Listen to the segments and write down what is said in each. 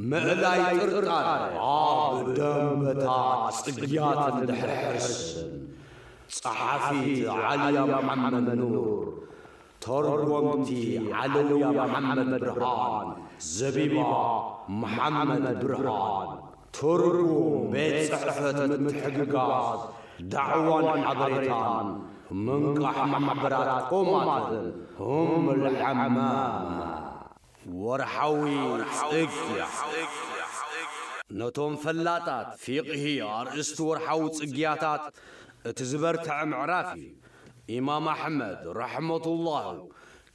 ምእላይ ጥርጣረ ኣብ ደንበታት ጽግያትን ድሕርሕርስን ጸሓፊት ዓልያ መሓመድ ኑር፣ ተርጎምቲ ዓለውያ መሓመድ ብርሃን፣ ዘቢባ መሓመድ ብርሃን፣ ትርጉም ቤት ጽሕፈት ምትሕግጋዝ ዳዕዋን ሓበሬታን ምንቃሕ ማሕበራት ኮማትን እም ልሐማም ወርሓዊ ጽግያ፣ ነቶም ፈላጣት ፊቕሂ ኣርእስቲ ወርሓዊ ጽግያታት እቲ ዝበርትዐ ምዕራፍ እዩ። ኢማም ኣሕመድ፣ ረሕመቱላሁ፣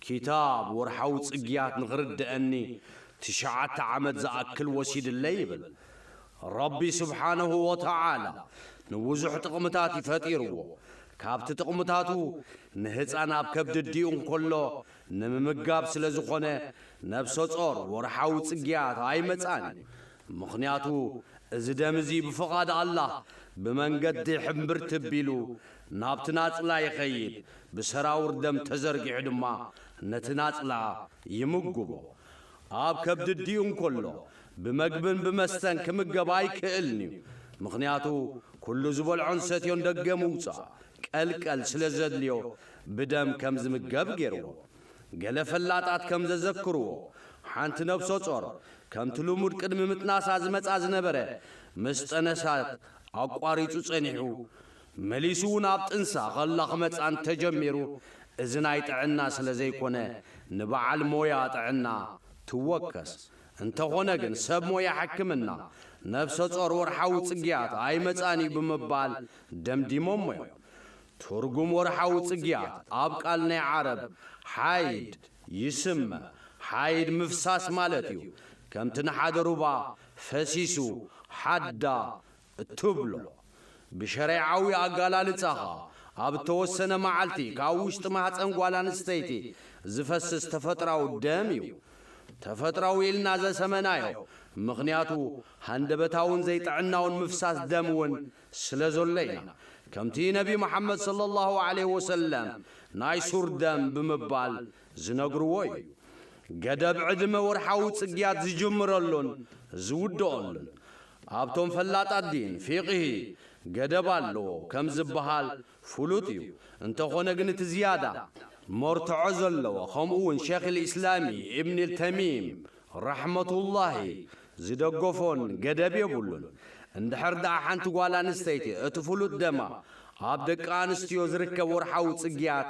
ኪታብ ወርሓዊ ጽግያት ንኽርደኣኒ ትሽዓተ ዓመት ዝኣክል ወሲድለይ ይብል። ረቢ ሱብሓነሁ ወተዓላ ንብዙሕ ጥቕምታት እዩ ፈጢርዎ። ካብቲ ጥቕምታቱ ንህጻን ኣብ ከብዲ ኣዲኡ እንከሎ ንምምጋብ ስለ ዝኾነ ነብሰጾር ወርሓዊ ጽግያት ኣይመጽኣን እዩ ምኽንያቱ እዚ ደም እዚ ብፍቓድ ኣላህ ብመንገዲ ሕምብርቲ ቢሉ ናብቲ ናጽላ ይኸይድ ብሰራውር ደም ተዘርጊሑ ድማ ነቲ ናጽላ ይምጉቦ ኣብ ከብዲ ዲኡ እንኮሎ ብመግብን ብመስተን ክምገብ ኣይክእልንዩ ምኽንያቱ ኩሉ ዝበልዖን ሰትዮን ደገ ምውጻእ ቀልቀል ስለ ዘድልዮ ብደም ከም ዝምገብ ገይርዎ። ገለ ፈላጣት ከም ዘዘክርዎ፣ ሓንቲ ነብሰጾር፣ ከምቲ ልሙድ ቅድሚ ምጥናሳ ዝመጻ ዝነበረ፣ ምስ ጠነሰት ኣቋሪጹ ጸኒሑ፣ መሊሱ'ውን ኣብ ጥንሳ ከላ ክመጻ እንተ ጀሚሩ፣ እዚ ናይ ጥዕና ስለ ዘይኮነ ንበዓል ሞያ ጥዕና ትወከስ፣ እንተኾነ ግን ሰብ ሞያ ሕክምና ነብሰ ጾር ወርሓዊ ጽግያት ኣይመጽኣን እዩ ብምባል ደምዲሞሞ እዮም። ትርጉም ወርሓዊ ጽግያት ኣብ ቃል ናይ ዓረብ ሓይድ ይስመ፣ ሓይድ ምፍሳስ ማለት እዩ። ከምቲ ንሓደ ሩባ ፈሲሱ፣ ሓዳ፣ እትብሎ፣ ብሸሪዓዊ ኣገላልጻ ከኣ፣ ኣብ እተወሰነ መዓልቲ ካብ ውሽጢ ማህጸን ጓል ኣንስተይቲ ዝፈስስ ተፈጥራዊ ደም እዩ። ተፈጥራዊ ኢልና ዘሰመናዮ፣ ምኽንያቱ ሃንደበታውን ዘይጥዕናውን ምፍሳስ ደም እውን ስለ ዘሎ ኢና። ከምቲ ነቢ መሓመድ ሰለላሁ ዓለይሂ ወሰለም ናይ ሱር ደም ብምባል ዝነግርዎ እዩ። ገደብ ዕድመ ወርሓዊ ጽግያት ዝጅምረሉን ዝውድኦሉን ኣብቶም ፈላጣት ዲን፣ ፊቅሂ፣ ገደብ ኣለዎ ከም ዝበሃል ፍሉጥ እዩ። እንተኾነ ግን እቲ ዝያዳ መርትዖ ዘለዎ ከምኡ ውን ሸይኽ ኢስላሚ ኢብን ተይሚም ራሕመቱላሂ ዝደገፎን ገደብ የብሉን እንድሕር ደኣ ሓንቲ ጓል ኣንስተይቲ እቲ ፍሉጥ ደማ ኣብ ደቂ ኣንስትዮ ዝርከብ ወርሓዊ ጽግያት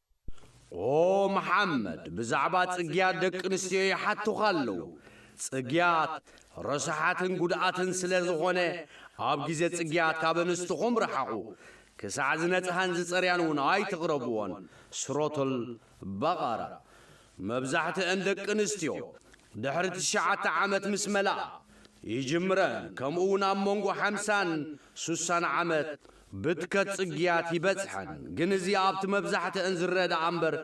ኦምሓመድ ብዛዕባ ጽግያት ደቂ ኣንስትዮ ይሓቱኻ ኣለዉ። ጽግያት ረሳሓትን ጉድኣትን ስለ ዝኾነ ኣብ ግዜ ጽግያት ካብ ኣንስትኹም ርሓቑ። ክሳዕ ዝነጽሃን ዝጸርያን እውን ኣይትቕረብዎን፣ ሱረቱል በቐራ። መብዛሕትኣን ደቂ ኣንስትዮ ድሕሪ ትሽዓተ ዓመት ምስ መልኣ ይጅምረን ከምኡ'ውን ኣብ መንጎ ሓምሳን ሱሳን ዓመት ብትከት ጽግያት ይበጽሐን ግን እዚ ኣብቲ መብዛሕትእን ዝረእ ደኣ እምበር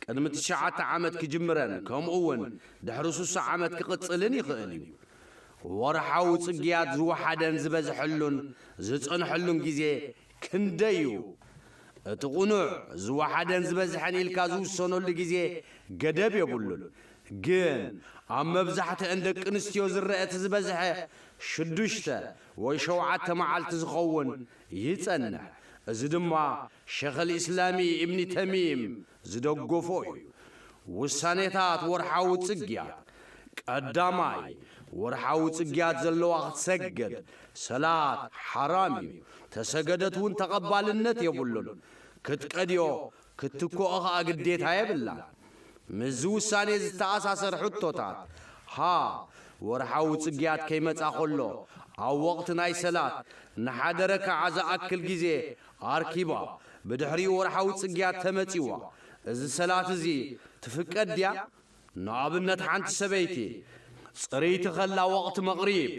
ቅድሚ ትሽዓተ ዓመት ክጅምረን ከምኡ ውን ድሕሪ ሱሳ ዓመት ክቕጽልን ይኽእል እዩ። ወርሓዊ ጽግያት ዝወሓደን ዝበዝሐሉን ዝጸንሐሉን ግዜ ክንደይ እዩ? እቲ ቕኑዕ ዝወሓደን ዝበዝሐን ኢልካ ዝውሰነሉ ግዜ ገደብ የብሉን ግን ኣብ መብዛሕትእን ደቂ ኣንስትዮ ዝረእ እቲ ዝበዝሐ ሽዱሽተ ወይ ሸውዓተ መዓልቲ ዝኸውን ይጸንሕ፣ እዚ ድማ ሸኽልኢስላሚ ኢብኒ ተሚም ዝደገፎ እዩ። ውሳኔታት ወርሓዊ ጽግያት፣ ቀዳማይ፣ ወርሓዊ ጽግያት ዘለዋ ክትሰግድ፣ ሰላት፣ ሓራም እዩ፣ ተሰገደት እውን ተቐባልነት የብሉን፣ ክትቀድዮ ክትትክኦ ከኣ ግዴታ የብላን። ምስዚ ውሳኔ ዝተኣሳሰር ሕቶታት፣ ሀ። ወርሓዊ ጽግያት ከይመጽኣ ከሎ፣ ኣብ ወቕቲ ናይ ሰላት፣ ንሓደ ረካዓ ዝኣክል ግዜ ኣርኪባ፣ ብድሕሪኡ ወርሓዊ ጽግያት ተመጺዋ፣ እዚ ሰላት እዚ ትፍቀድ ድያ? ንኣብነት ሓንቲ ሰበይቲ፣ ጽርይቲ ከላ ወቕቲ መቕሪብ፣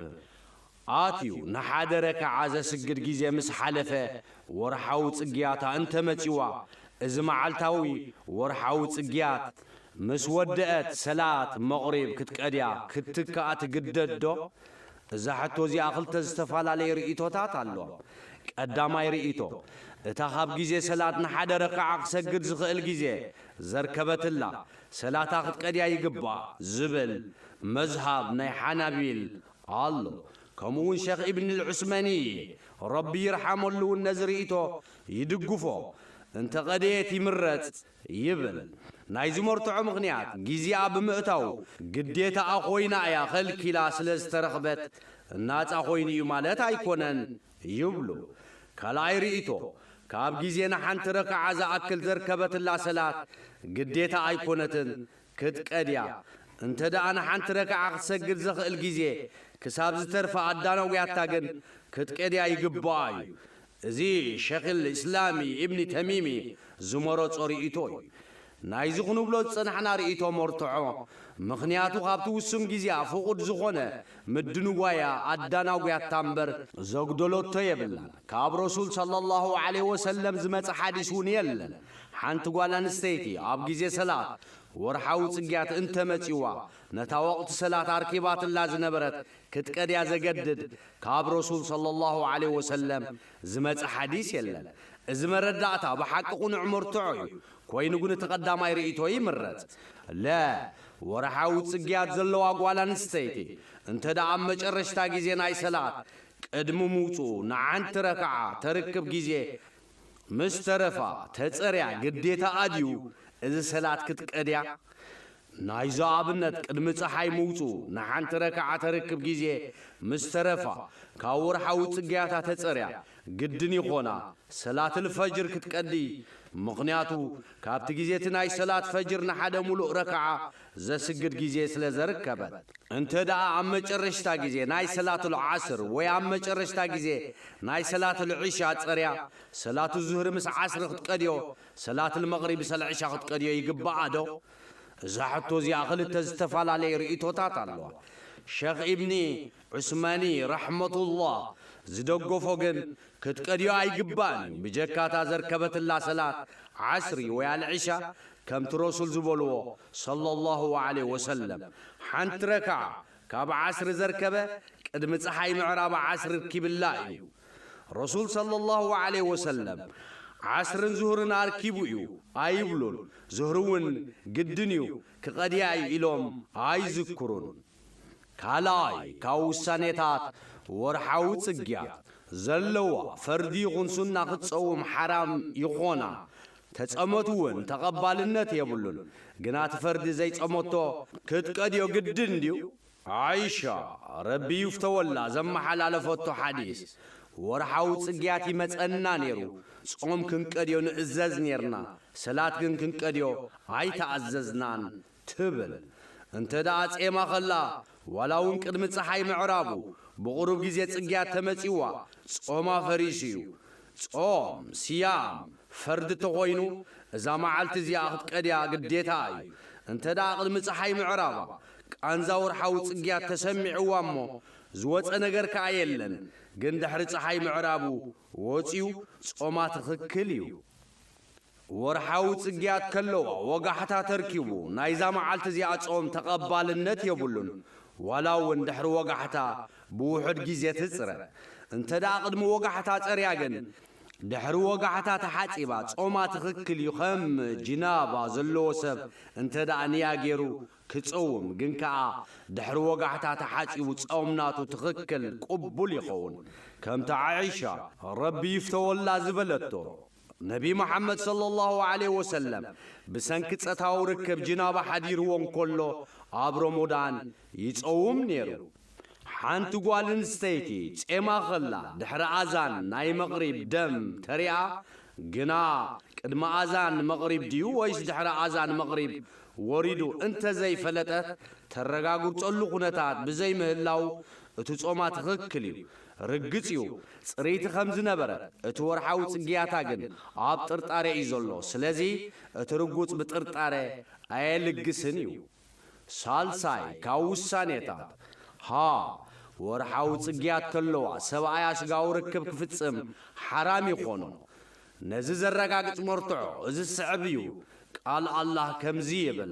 ኣትዩ እናሓደረ ከዓ ዘስግድ ግዜ ምስ ሓለፈ ወርሓዊ ፅግያታ እንተመፂዋ እዚ መዓልታዊ ወርሓዊ ፅግያት ምስ ወደኣት ሰላት መቕሪብ ክትቀድያ ክትትክኣ ትግደድ ዶ? እዛ ሕቶ እዚኣ ክልተ ዝተፈላለዩ ርኢቶታት ኣለዋ። ቀዳማይ ርኢቶ እታ ካብ ግዜ ሰላት እናሓደረ ከዓ ክሰግድ ዝኽእል ግዜ ዘርከበትላ ሰላታ ክትቀድያ ይግባእ ዝብል መዝሃብ ናይ ሓናቢል ኣሎ ከምኡ ውን ሸኽ ኢብን ልዑስመኒ እየ ረቢ ይርሓመሉ ውን ነዚ ሪኢቶ ይድግፎ እንተ ቐደየት ይምረጽ ይብል ናይ ዝመርትዖ ምኽንያት ጊዚኣ ብምእታዉ ግዴታኣ ኮይና እያ ኸልኪላ ስለ ዝተረኽበት ናጻ ኮይኑ እዩ ማለት ኣይኮነን ይብሉ ካልኣይ ሪኢቶ ካብ ጊዜ ንሓንቲ ረክዓ ዝኣክል ዘርከበትላ ሰላት ግዴታ ኣይኮነትን ክትቀድ እያ። እንተ ደኣ ንሓንቲ ረክዓ ክትሰግድ ዘኽእል ግዜ ክሳብ ዝተርፋ ኣዳናጉያታ ግን ክትቀድያ ይግበኣ እዩ። እዚ ሸክል ኢስላሚ ኢብኒ ተሚሚ ዝመረጾ ርእይቶ እዩ። ናይዚ ክንብሎ ዝጸናሕና ርእይቶ መርትዖ ምኽንያቱ ካብቲ ውሱን ግዜኣ ፍቑድ ዝኾነ ምድንጓያ ኣዳናጉያታ እምበር ዘጉደለቶ የብላን። ካብ ረሱል ሰለላሁ ዓለይሂ ወሰለም ዝመጸ ሓዲስ እውን የለን፣ ሓንቲ ጓል ኣንስተይቲ ኣብ ግዜ ሰላት ወርሓዊ ጽግያት እንተ መጺዋ ነታ ወቕቲ ሰላት ኣርኪባትላ ዝነበረት ክትቀድያ ዘገድድ ካብ ረሱል ሰለላሁ ዓለይሂ ወሰለም ዝመጸ ሓዲስ የለን። እዚ መረዳእታ ብሓቂ ቅኑዕ መርትዖ እዩ፣ ኮይኑ ግን እቲ ቀዳማይ ርእይቶ ይምረጽ። ለ ወርሓዊ ጽግያት ዘለዋ ጓል ኣንስተይቲ እንተ ደኣ ኣብ መጨረሽታ ግዜ ናይ ሰላት ቅድሚ ምውጽኡ ንዓንትረ ከኣ ተርክብ ግዜ ምስ ተረፋ ተጸርያ ግዴታኣ ድዩ እዚ ሰላት ክትቀድያ? ናይዛ ኣብነት ቅድሚ ጸሓይ ምውጽኡ ንዓንትረ ከኣ ተርክብ ግዜ ምስ ተረፋ ካብ ወርሓዊ ጽግያታ ተጸርያ ግድን ይኾና ሰላትል ፈጅር ክትቀዲ ምኽንያቱ ካብቲ ግዜቲ ናይ ሰላት ፈጅር ንሓደ ሙሉእ ረክዓ ዘስግድ ግዜ ስለ ዘርከበት። እንተ ደኣ ኣብ መጨረሽታ ግዜ ናይ ሰላቱል ዓስር ወይ ኣብ መጨረሽታ ግዜ ናይ ሰላቱል ዒሻ ጸርያ ሰላቱ ዙህሪ ምስ ዓስሪ ክትቀድዮ ሰላቱል መቕሪብ ምሰል ዕሻ ክትቀድዮ ይግባኣ ዶ? እዛ ሕቶ እዚኣ ክልተ ዝተፋላለየ ርእይቶታት ኣለዋ። ሸኽ ኢብኒ ዑስማኒ ራሕመቱላህ ዝደገፎ ግን ክትቀድዮ ኣይግባእን እዩ ብጀካ እታ ዘርከበትላ ሰላት ዓስሪ ወይ ኣልዒሻ ከምቲ ረሱል ዝበልዎ ሰለሏሁ ወዓለይሂ ወሰለም ሓንቲ ረክዓ ካብ ዓስሪ ዘርከበ ቅድሚ ፀሓይ ምዕራብ ዓስሪ ርኪብላ እዩ ረሱል ሰለሏሁ ወዓለይሂ ወሰለም ዓስርን ዙህርን ኣርኪቡ እዩ ኣይብሉን ዙህሪ እውን ግድን እዩ ክቐድያ እዩ ኢሎም ኣይዝክሩን ካልኣይ፣ ካብ ውሳኔታት ወርሓዊ ጽግያት ዘለዋ ፈርዲ ይኹን ሱና ክትጸውም ሓራም ይኾና። ተጸመቱ ውን ተቐባልነት የብሉን። ግና እቲ ፈርዲ ዘይጸመቶ ክትቀድዮ ግድን ድዩ? ዓኢሻ፣ ረቢ ይፍተወላ፣ ዘመሓላለፈቶ ሓዲስ፣ ወርሓዊ ጽግያት ይመጸና ኔሩ፣ ጾም ክንቀድዮ ንእዘዝ ኔርና፣ ሰላት ግን ክንቀድዮ ኣይተኣዘዝናን ትብል። እንተ ደኣ ጼማ ከላ፣ ዋላ እውን ቅድሚ ጸሓይ ምዕራቡ፣ ብቑሩብ ግዜ ጽግያት ተመጺኡዋ፣ ጾማ ፈሪሱ እዩ። ጾም፣ ስያም፣ ፈርዲ ተኾይኑ፣ እዛ መዓልቲ እዚኣ ክትቀድያ ግዴታኣ እዩ። እንተ ደኣ ቅድሚ ጸሓይ ምዕራባ፣ ቃንዛ ወርሓዊ ጽግያት ተሰሚዑዋ እሞ፣ ዝወጸ ነገር ከኣ የለን፣ ግን ድሕሪ ጸሓይ ምዕራቡ ወጺኡ ጾማ ትኽክል እዩ። ወርሓዊ ጽግያት ከለዋ ወጋሕታ ተርኪቡ ናይዛ መዓልቲ እዚኣ ጾም ተቐባልነት የብሉን ዋላ እውን ድሕሪ ወጋሕታ ብውሑድ ግዜ ትጽረ እንተ ደኣ ቅድሚ ወጋሕታ ጸርያ ግን ድሕሪ ወጋሕታ ተሓጺባ ጾማ ትኽክል እዩ ከም ጅናባ ዘለዎ ሰብ እንተ ደኣ ንያ ጌሩ ክጸውም ግን ከኣ ድሕሪ ወጋሕታ ተሓጺቡ ጾም ናቱ ትኽክል ቁቡል ይኸውን ከምቲ ዓኢሻ ረቢ ይፍተወላ ዝበለቶ ነቢ መሓመድ ሰለላሁ ዓለይሂ ወሰለም ብሰንኪ ጸታዊ ርክብ ጅናባ ሓዲርዎ እንከሎ ኣብ ሮሞዳን ይጸውም ኔሩ። ሓንቲ ጓል እንስተይቲ ጼማ ከላ ድሕሪ ኣዛን ናይ መቕሪብ ደም ተሪኣ ግና ቅድሚ ኣዛን መቕሪብ ድዩ ወይስ ድሕሪ ኣዛን መቕሪብ ወሪዱ እንተዘይፈለጠት ተረጋግርጸሉ ኩነታት ብዘይምህላዉ እቲ ጾማ ትኽክል እዩ ርግጽ እዩ ጽርይቲ ከም ዝነበረ እቲ ወርሓዊ ጽግያታ ግን ኣብ ጥርጣረ እዩ ዘሎ ስለዚ እቲ ርጉጽ ብጥርጣረ ኣየልግስን እዩ ሳልሳይ ካብ ውሳኔታት ሃ ወርሓዊ ጽግያት ከለዋ ሰብኣያ ስጋዊ ርክብ ክፍጽም ሓራም ይኾኖ ነዚ ዘረጋግጽ መርትዖ እዚ ዝስዕብ እዩ ቃል ኣላህ ከምዚ ይብል።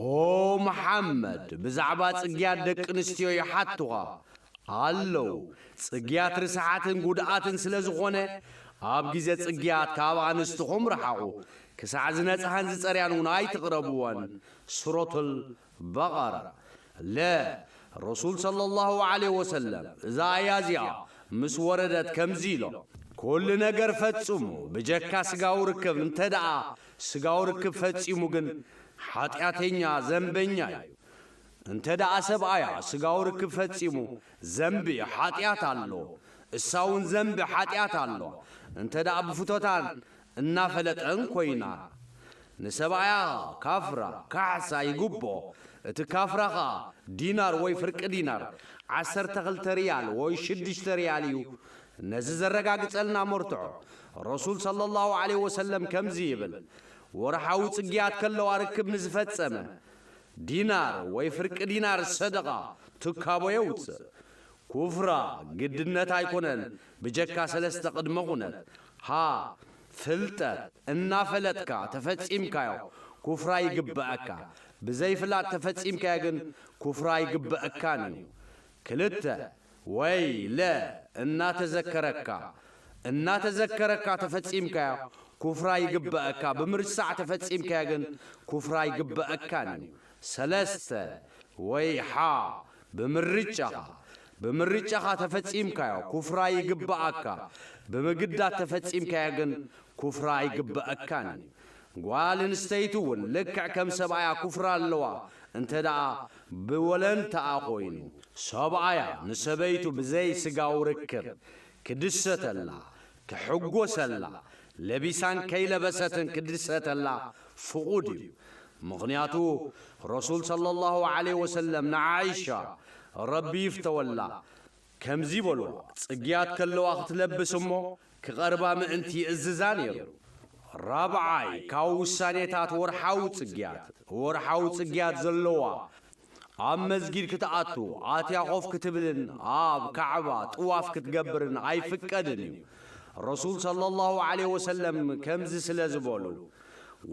ኦ መሓመድ ብዛዕባ ጽግያት ደቂ ኣንስትዮ ይሓቱኻ ኣለው ጽግያት ርስሓትን ጉድኣትን ስለ ዝኾነ ኣብ ግዜ ጽግያት ካብ ኣንስትኹም ርሓቑ ክሳዕ ዝነጽሃን ዝጸርያን ውን ኣይትቕረብወን ሱረቱል በቐራ ለ ረሱል ሰለላሁ ዓለይሂ ወሰለም እዛ ኣያ እዚኣ ምስ ወረደት ከምዚ ኢሎም ኩሉ ነገር ፈጽሙ ብጀካ ስጋዊ ርክብ እንተድኣ ስጋዊ ርክብ ፈጺሙ ግን ሓጢኣተኛ፣ ዘንበኛ፣ እዩ። እንተ ደኣ ሰብኣያ ስጋዊ ርክብ ፈጺሙ ዘንቢ፣ ሓጢኣት፣ ኣሎ፣ እሳ እውን ዘንቢ፣ ሓጢኣት፣ ኣሎዋ። እንተ ደኣ ብፍቶታን እናፈለጠን ኮይና። ንሰብኣያ ኸኣ ካፍራ፣ ካሕሳ፣ ይግብኦ። እቲ ካፍራ ኸኣ ዲናር ወይ ፍርቂ ዲናር፣ ዓሰርተ ክልተ ርያል ወይ ሽዱሽተ ርያል፣ እዩ። ነዚ ዘረጋግጸልና መርትዖ፣ ረሱል ሰለላሁ ዓለይሂ ወሰለም ከምዚ ይብል፣ ወርሓዊ ጽግያት ከለዋ ርክብ ንዝፈጸመ፣ ዲናር ወይ ፍርቂ ዲናር ሰደቓ፣ ትካቦ፣ የውጽእ። ኩፍራ፣ ግድነት ኣይኮነን ብጀካ ሰለስተ ቅድመ ኩነት፣ ሀ። ፍልጠት፣ እናፈለጥካ ተፈጺምካዮ ኩፍራ ይግበኣካ፣ ብዘይፍላጥ ተፈጺምካዮ ግን ኩፍራ ኣይግበኣካን እዩ። ክልተ። ወይ ለ እናተዘከረካ እናተዘከረካ ተፈጺምካዮ ኩፍራ ይግበእካ ብምርሳዕ ተፈጺምካዮ ግን ኩፍራ ኣይግበእካን እዩ ሰለስተ ወይ ሓ ብምርጫኻ ብምርጫኻ ተፈጺምካዮ ኩፍራ ይግበኣካ ብምግዳድ ተፈጺምካዮ ግን ኩፍራ ኣይግበእካን እዩ። ጓል እንስተይቲ እውን ልክዕ ከም ሰብኣያ ኩፍራ ኣለዋ እንተደኣ ብወለንታኣ ኮይኑ ሰብኣያ ንሰበይቱ ብዘይ ስጋዊ ርክብ ክድሰተላ ክሕጎሰላ ለቢሳን ከይለበሰትን ክድሰተላ ፍቁድ እዩ ምኽንያቱ ረሱል ሰለሏሁ ዓለይሂ ወሰለም ንዓኢሻ ረቢ ይፍተወላ ከምዚ በልዋ፣ ጽግያት ከለዋ ክትለብስ እሞ ክቐርባ ምእንቲ ይእዝዛ ነይሩ። ራብዓይ፣ ካብ ውሳኔታት ወርሓዊ ጽግያት፣ ወርሓዊ ጽግያት ዘለዋ ኣብ መስጊድ ክትኣቱ፣ ኣትያ ኮፍ ክትብልን ኣብ ካዕባ ጥዋፍ ክትገብርን ኣይፍቀድን እዩ። ረሱል ሰለላሁ ዓለይሂ ወሰለም ከምዚ ስለ ዝበሉ፣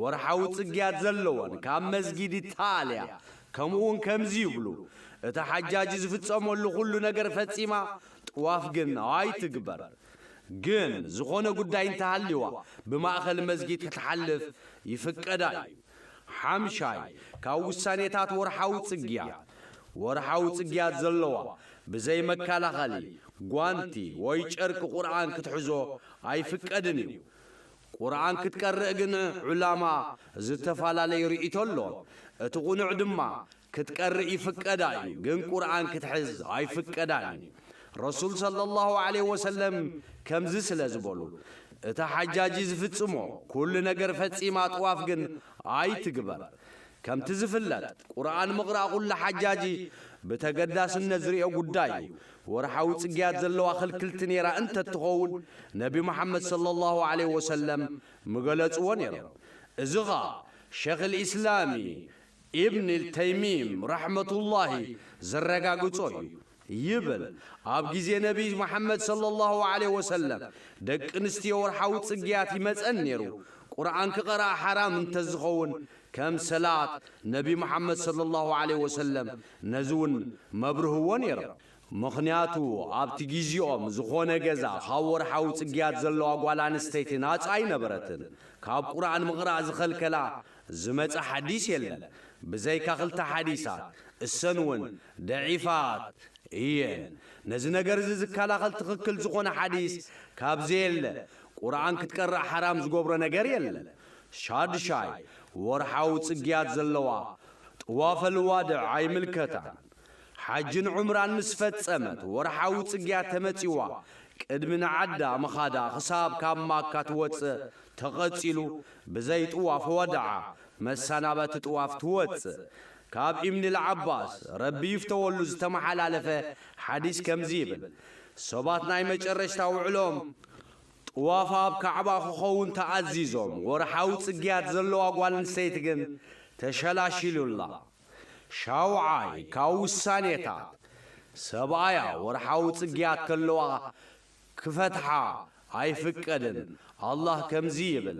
ወርሓዊ ጽግያት ዘለወን ካብ መስጊድ ይተኣልያ፣ ከምኡውን ከምዚ ይብሉ፣ እታ ሓጃጂ ዝፍጸመሉ ዅሉ ነገር ፈጺማ ጥዋፍ ግን ኣይትግበር። ግን ዝዀነ ጕዳይ እንተ ሃልዩዋ፣ ብማእከል መስጊድ ክትሓልፍ ይፍቀዳ እዩ። ሓምሻይ፣ ካብ ውሳኔታት ወርሓዊ ጽግያት፣ ወርሓዊ ጽግያት ዘለዋ ብዘይ መከላኸሊ ጓንቲ ወይ ጨርቂ ቍርኣን ክትሕዞ ኣይፍቀድን እዩ። ቁርኣን ክትቀርእ ግን ዑላማ ዝተፈላለየ ሪኢቶ ኣሎዎም እቲ ቁኑዕ ድማ ክትቀርእ ይፍቀዳ እዩ ግን ቁርኣን ክትሕዝ ኣይፍቀዳን እዩ ረሱል ሰለላሁ ዓለይሂ ወሰለም ከምዚ ስለ ዝበሉ እታ ሓጃጂ ዝፍጽሞ ኩሉ ነገር ፈጺማ ጥዋፍ ግን ኣይትግበር ከምቲ ዝፍለጥ ቁርኣን ምቕራእ ኩሉ ሓጃጂ ብተገዳስነት ዝሪኦ ጉዳይ እዩ። ወርሓዊ ፅግያት ዘለዋ ክልክልቲ ነይራ እንተትኸውን ነቢ መሓመድ ሰለላሁ ዓለይሂ ወሰለም ምገለፅዎ ነይሮም። እዚ ኸዓ ሸይኽል ኢስላሚ ኢብንል ተይሚም ረሕመቱላሂ ዘረጋግፆ እዩ። ይብል ኣብ ግዜ ነብይ መሓመድ ሰለሏሁ ዓለይሂ ወሰለም ደቂ ኣንስትዮ ወርሓዊ ጽግያት ይመጸን ኔሩ ቁርኣን ክቀርኣ ሓራም እንተዝኸውን ከም ሰላት ነብይ መሓመድ ሰለሏሁ ዓለይሂ ወሰለም ነዚ ውን መብርህዎ ኔሮም ምኽንያቱ ኣብቲ ግዜኦም ዝኾነ ገዛ ካብ ወርሓዊ ጽግያት ዘለዋ ጓል ኣንስተይቲ ናጻ ኣይነበረትን ካብ ቁርኣን ምቅራእ ዝኸልከላ ዝመጸ ሓዲስ የለን ብዘይካ ክልተ ሓዲሳት እሰን ውን ደዒፋት እየን ነዚ ነገር እዚ ዝካላኸል ትኽክል ዝኾነ ሓዲስ ካብ ዘየለ ቁርኣን ክትቀርእ ሓራም ዝጎብሮ ነገር የለን ሻድሻይ ወርሓዊ ጽግያት ዘለዋ ጥዋፈልዋድዕ ኣይምልከታን ሓጅን ዑምራን ምስ ፈጸመት ወርሓዊ ጽግያት ተመጺዋ ቅድሚ ንዓዳ ምኻዳ ክሳብ ካብ ማካ ትወጽእ ተቐጺሉ ብዘይ ጥዋፍ ወድዓ መሳናበቲ ጥዋፍ ትወጽእ ካብ ኢብንልዓባስ ረቢ ይፍተወሉ ዝተመሓላለፈ ሓዲስ ከምዚ ይብል፣ ሰባት ናይ መጨረሽታ ውዕሎኦም ጥዋፍ ኣብ ካዕባ ክኸውን ተኣዚዞም፣ ወርሓዊ ጽግያት ዘለዋ ጓል ኣንስተይቲ ግን ተሸላሺሉላ። ሻውዓይ ካብ ውሳኔታት፣ ሰብኣያ ወርሓዊ ጽግያት ከለዋ ክፈትሓ ኣይፍቀድን፣ ኣላህ ከምዚ ይብል፣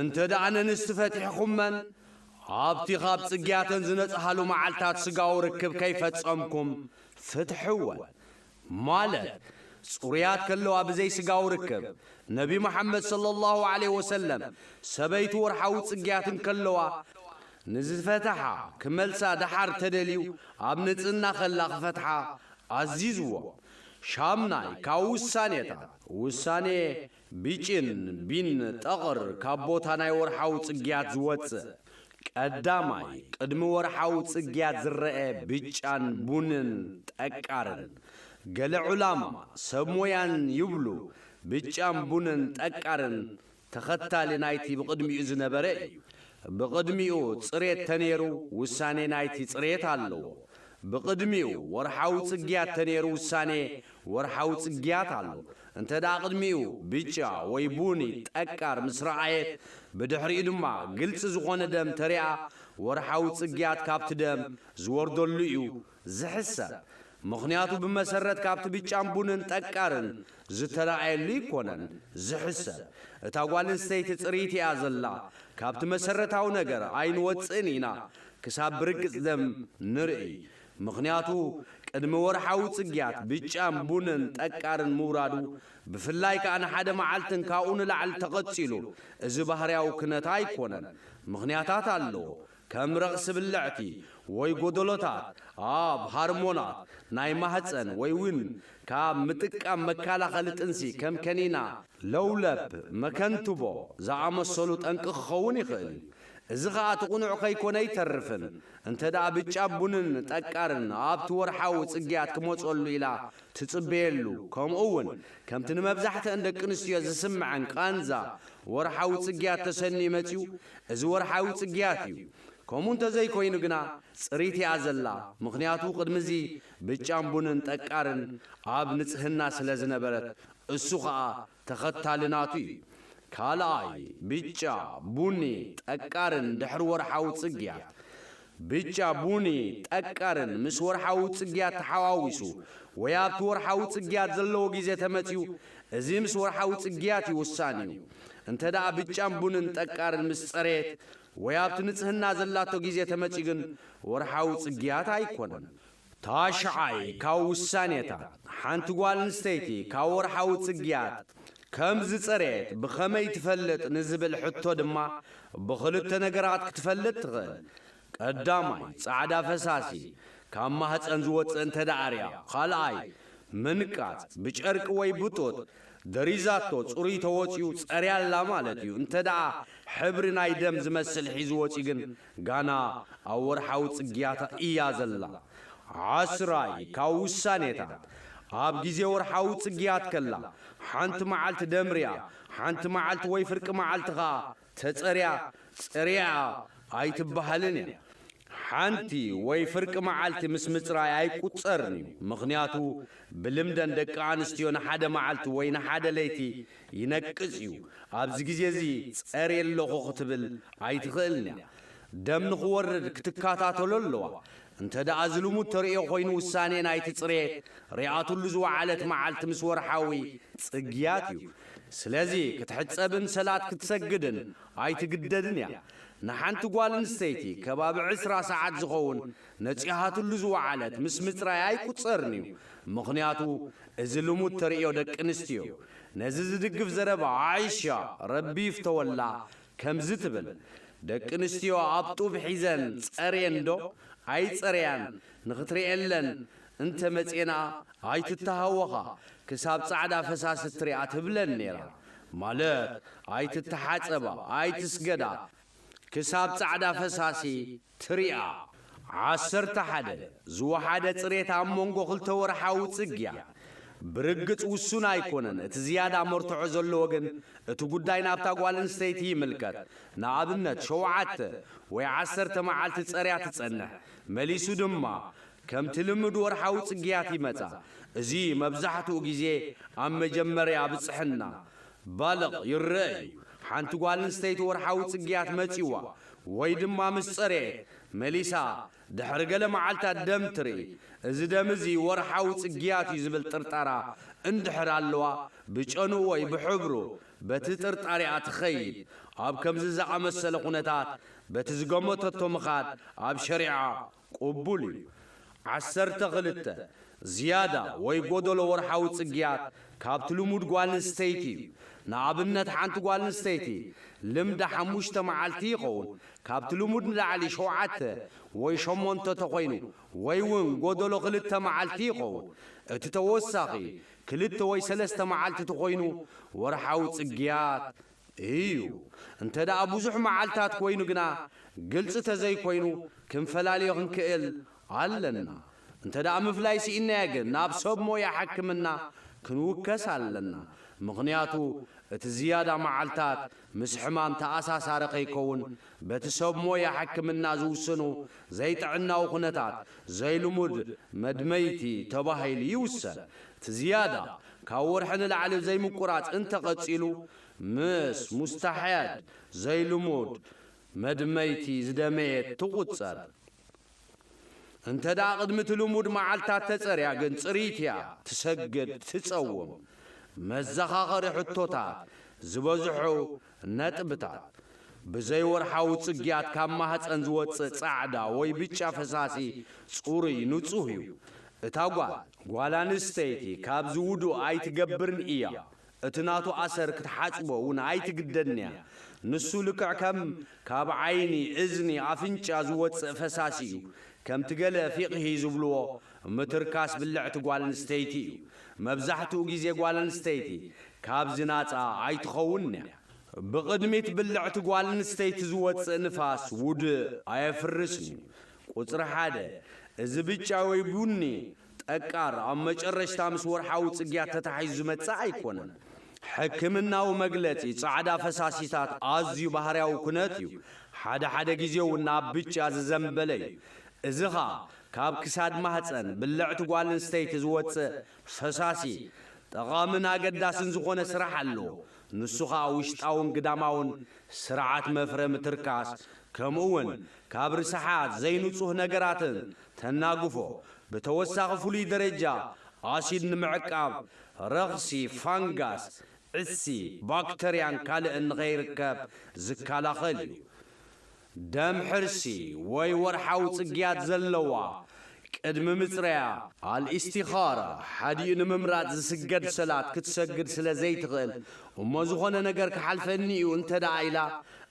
እንተ ደኣ ነንስቲ ፈቲሕኹመን ኣብቲ ኻብ ጽግያተን ዝነጽሃሉ መዓልታት ስጋዊ ርክብ ከይፈጸምኩም ፍትሕወን፣ ማለት ጽሩያት ከለዋ ብዘይ ስጋዊ ርክብ፣ ነቢ መሓመድ ሰለላሁ ዓለይሂ ወሰለም ሰበይቱ ወርሓዊ ጽግያት እንከለዋ ንዝፈተሓ ክመልሳ ደሓር ተደልዩ ኣብ ንጽህና ከላ ክፈትሓ ኣዚዝዎም። ሻምናይ ካብ ውሳኔታት፣ ውሳኔ ቢጭን፣ ቢን፣ ጠቕር፣ ካብ ቦታ ናይ ወርሓዊ ጽግያት ዝወጽእ፣ ቀዳማይ፣ ቅድሚ ወርሓዊ ጽግያት ዝረኤ ብጫን ቡንን ጠቃርን። ገለ ዑላማ፣ ሰብ ሞያን፣ ይብሉ፣ ብጫን ቡንን ጠቃርን ተኸታሊ ናይቲ ብቕድሚኡ ዝነበረ እዩ። ብቕድሚኡ ጽሬት ተኔሩ ውሳኔ ናይቲ ጽሬት ኣለዎ። ብቕድሚኡ ወርሓዊ ጽግያት ተነይሩ ውሳኔ ወርሓዊ ጽግያት ኣሎ እንተድኣ ቅድሚኡ ብጫ ወይ ቡኒ ጠቃር ምስ ረኣየት ብድሕሪኡ ድማ ግልጺ ዝኾነ ደም ተሪኣ ወርሓዊ ጽግያት ካብቲ ደም ዝወርደሉ እዩ ዝሕሰብ ምኽንያቱ ብመሰረት ካብቲ ብጫን ቡንን ጠቃርን ዝተራኣየሉ ይኮነን ዝሕሰብ እታ ጓል እንስተይቲ ፅርይቲ እያ ዘላ ካብቲ መሰረታዊ ነገር ኣይንወፅእን ኢና ክሳብ ብርግፅ ደም ንርእይ ምክንያቱ ቅድሚ ወርሓዊ ፅግያት ብጫን ቡንን ጠቃርን ምውራዱ ብፍላይ ከዓ ንሓደ መዓልትን ካብኡ ንላዕሊ ተቀፂሉ እዚ ባህርያዊ ክነት ኣይኮነን ምክንያታት ኣለዎ ከም ረቕሲ ብልዕቲ ወይ ጎደሎታት ኣብ ሃርሞናት ናይ ማህጸን ወይውን ካብ ምጥቃም መካላኸሊ ጥንሲ ከም ከኒና ለውለፕ፣ መከንትቦ፣ ዝኣመሰሉ ጠንቂ ክኸውን ይኽእል እዩ። እዚ ኸኣ እቲ ቅኑዕ ከይኮነ ኣይተርፍን እንተደኣ ብጫ ቡንን ጠቃርን ኣብቲ ወርሓዊ ጽግያት ክመጸሉ ኢላ ትጽበየሉ ከምኡ ውን ከምቲ ንመብዛሕትኣን ደቂ ኣንስትዮ ዝስምዐን ቃንዛ ወርሓዊ ጽግያት ተሰንዩ መጽዩ እዚ ወርሓዊ ጽግያት እዩ ከምኡ እንተዘይኮይኑ ግና ጽሪት እያ ዘላ ምኽንያቱ ቅድሚ እዚ ብጫን ቡንን ጠቃርን ኣብ ንጽህና ስለዝነበረት እሱ ከኣ ተኸታሊ ናቱ እዩ። ካልኣይ፣ ብጫ፣ ቡኒ፣ ጠቃርን ድሕሪ ወርሓዊ ጽግያት። ብጫ፣ ቡኒ፣ ጠቃርን ምስ ወርሓዊ ጽግያት ተሓዋዊሱ ወይ ኣብቲ ወርሓዊ ጽግያት ዘለዎ ግዜ ተመጽዩ፣ እዚ ምስ ወርሓዊ ጽግያት እዩ ውሳኒ እዩ። እንተደኣ ብጫን ቡንን ጠቃርን ምስ ጸረየት ወይ ኣብቲ ንጽህና ዘላቶ ግዜ ተመጽዩ ግን ወርሓዊ ጽግያት ኣይኮነን። ታሽዓይ ካብ ውሳኔታት፣ ሓንቲ ጓል ኣንስተይቲ ካብ ወርሓዊ ጽግያት ከም ዝጸረየት ብኸመይ ትፈልጥ ንዝብል ሕቶ ድማ ብኽልተ ነገራት ክትፈልጥ ትኽእል። ቀዳማይ፣ ጻዕዳ ፈሳሲ ካብ ማህጸን ዝወጽእ እንተድኣ ኣርያ። ካልኣይ፣ ምንቃጽ፣ ብጨርቂ ወይ ብጡጥ ደሪዛቶ ጽሩይ ተወጺኡ ጸርያ ኣላ ማለት እዩ፣ እንተድኣ ሕብሪ ናይ ደም ዝመስል ሒዙ ወጺኡ ግን ጋና ኣብ ወርሓዊ ጽግያታ እያ ዘላ። ዓስራይ ካብ ውሳኔታት፣ ኣብ ግዜ ወርሓዊ ጽግያት ከላ፣ ሓንቲ መዓልቲ ደምርያ፣ ሓንቲ መዓልቲ ወይ ፍርቂ መዓልቲ ከኣ ተጸርያ፣ ጽርያ፣ ኣይትበሃልን እያ። ሓንቲ ወይ ፍርቂ መዓልቲ ምስ ምጽራይ ኣይቁጸርን እዩ፣ ምኽንያቱ ብልምደን ደቂ ኣንስትዮ ንሓደ መዓልቲ ወይ ንሓደ ለይቲ ይነቅጽ እዩ። ኣብዚ ግዜ እዚ ጸርየ ኣለኹ ክትብል ኣይትኽእልን እያ። ደም ንኽወርድ ክትከታተሎ ኣለዋ። እንተድኣ ዝልሙድ ተርእዮ ኮይኑ ውሳኔ ናይቲ ጽርየት ሪኣትሉ ዝወዓለት መዓልቲ ምስ ወርሓዊ ጽግያት እዩ። ስለዚ ክትሕጸብን ሰላት ክትሰግድን ኣይትግደድን እያ። ንሓንቲ ጓል ኣንስተይቲ ከባቢ ዕስራ ሰዓት ዝኸውን ነጺሃትሉ ዝወዓለት ምስ ምጽራይ ኣይቁጸርን'ዩ ምኽንያቱ እዚ ልሙድ ተርእዮ ደቂ ኣንስትዮ። ነዚ ዝድግፍ ዘረባ ዓኢሻ ረቢ ይፍተወላ ከምዚ ትብል፣ ደቂ ኣንስትዮ ኣብ ጡብ ሒዘን ጸርየን ዶ ኣይጸረያን ንኽትርእየለን እንተ መጼና ኣይትተሃወኻ ክሳብ ጻዕዳ ፈሳሲ እትሪኣ ትብለን ኔራ ማለት ኣይትተሓጸባ ኣይትስገዳ ክሳብ ጻዕዳ ፈሳሲ ትርኣ። ዓሰርተ ሓደ፣ ዝወሓደ ጽሬት ኣብ መንጎ ክልተ ወርሓዊ ጽግያ ብርግጽ ውሱን ኣይኮነን፣ እቲ ዝያዳ መርትዖ ዘለዎ ግን እቲ ጉዳይ ናብታ ጓል ኣንስተይቲ ይምልከት፣ ንኣብነት ሸውዓተ ወይ ዓሰርተ መዓልቲ ጸርያ ትጸንሕ፣ መሊሱ ድማ ከምቲ ልምድ ወርሓዊ ጽግያት ይመጻ፣ እዚ መብዛሕትኡ ግዜ ኣብ መጀመርያ ብጽሕና ባልቕ ይረኣ እዩ። ሓንቲ ጓል ኣንስተይቲ ወርሓዊ ጽግያት መጺዋ ወይ ድማ ምስ ጸረየት መሊሳ ድሕሪ ገለ መዓልታት ደም ትርኢ። እዚ ደም እዚ ወርሓዊ ጽግያት እዩ ዝብል ጥርጣራ እንድሕር ኣለዋ፣ ብጨንኡ ወይ ብሕብሩ በቲ ጥርጣሪኣ ትኸይድ። ኣብ ከምዚ ዝኣመሰለ ኩነታት በቲ ዝገመተቶ ምኻድ ኣብ ሸሪዓ ቅቡል እዩ። ዓሰርተ ክልተ፣ ዝያዳ ወይ ጎደሎ ወርሓዊ ጽግያት ካብቲ ልሙድ ጓልንስተይቲ እዩ። ንኣብነት ሓንቲ ጓልንስተይቲ ልምዳ ሓሙሽተ መዓልቲ ይኸውን፣ ካብቲ ልሙድ ንላዕሊ ሸውዓተ ወይ ሸሞንተ ተኾይኑ ወይ ውን ጎደሎ ክልተ መዓልቲ ይኸውን። እቲ ተወሳኺ ክልተ ወይ ሰለስተ መዓልቲ ተኾይኑ ወርሓዊ ጽግያት እዩ። እንተ ደኣ ብዙሕ መዓልታት ኮይኑ ግና ግልጺ ተዘይኮይኑ ክንፈላልዮ ክንክእል ኣለና። እንተ ደኣ ምፍላይ ስኢንናዮ ግን ናብ ሰብ ሞያ ሕክምና ክንውከስ ኣለና። ምኽንያቱ እቲ ዝያዳ መዓልታት ምስ ሕማም ተኣሳሳሪ ከይከውን በቲ ሰብ ሞያ ሕክምና ዝውስኑ ዘይጥዕናዊ ኩነታት ዘይልሙድ መድመይቲ ተባሂሉ ይውሰን። እቲ ዝያዳ ካብ ወርሒ ንላዕሊ ዘይምቁራጽ እንተ ቀጺሉ፣ ምስ ሙስታሕያድ፣ ዘይልሙድ፣ መድመይቲ ዝደመየት ትቑጸር። እንተድኣ ቅድሚ እቲ ልሙድ መዓልታት ተጸርያ ግን ጽርይቲ እያ፣ ትሰግድ፣ ትጸውም። መዘኻኸሪ ሕቶታት ዝበዝሖ ነጥብታት፣ ብዘይወርሓዊ ጽግያት ካብ ማህጸን ዝወጽእ ጻዕዳ ወይ ብጫ ፈሳሲ ጽሩይ፣ ንጹህ፣ እዩ። እታ ጓል፣ ጓል ኣንስተይቲ፣ ካብዚ ውዱእ ኣይትገብርን እያ፣ እቲ ናቱ ኣሰር ክትሓጽቦ እውን ኣይትግደድን'ያ፣ ንሱ ልክዕ ከም ካብ ዓይኒ፣ እዝኒ፣ ኣፍንጫ ዝወጽእ ፈሳሲ እዩ፣ ከምቲ ገለ ፊቕሂ ዝብልዎ ምትርካስ ብልዕቲ ጓል ኣንስተይቲ እዩ። መብዛሕትኡ ግዜ ጓል ኣንስተይቲ ካብዚ ናጻ ኣይትኸውንን እያ። ብቕድሚት ብልዕቲ ጓል ኣንስተይቲ ዝወጽእ ንፋስ ውድእ ኣየፍርስን እዩ። ቁጽሪ ሓደ፣ እዚ ብጫ ወይ ቡኒ ጠቃር ኣብ መጨረሽታ ምስ ወርሓዊ ጽግያት ተታሒዙ ዝመጽእ ኣይኮነን። ሕክምናዊ መግለጺ ጻዕዳ ፈሳሲታት ኣዝዩ ባህርያዊ ኩነት እዩ፣ ሓደ ሓደ ግዜ'ውን ናብ ብጫ ዝዘንበለ እዩ፣ እዚ ኸኣ ካብ ክሳድ ማህጸን ብልዕቲ ጓል ኣንስተይቲ ዝወጽእ ፈሳሲ ጠቓምን ኣገዳስን ዝኾነ ስራሕ ኣሎ፣ ንሱ ኸኣ ውሽጣውን ግዳማውን ስርዓት መፍረ ምትርካስ ከምኡውን ካብ ርስሓት ዘይንጹህ ነገራትን ተናግፎ ብተወሳኺ ፍሉይ ደረጃ ኣሲድ ንምዕቃብ ረኽሲ ፋንጋስ፣ ዕሲ፣ ባክተርያን ካልእን ንኸይርከብ ዝከላኸል እዩ። ደም ሕርሲ ወይ ወርሓዊ ጽግያት ዘለዋ፣ ቅድሚ ምጽረያ፣ ኣል-ኢስቲኻራ፣ ሓዲኡ ንምምራጽ ዝስገድ ሰላት ክትሰግድ ስለ ዘይትኽእል፣ እሞ ዝኾነ ነገር ክሓልፈኒ'ዩ እንተድኣ ኢላ፣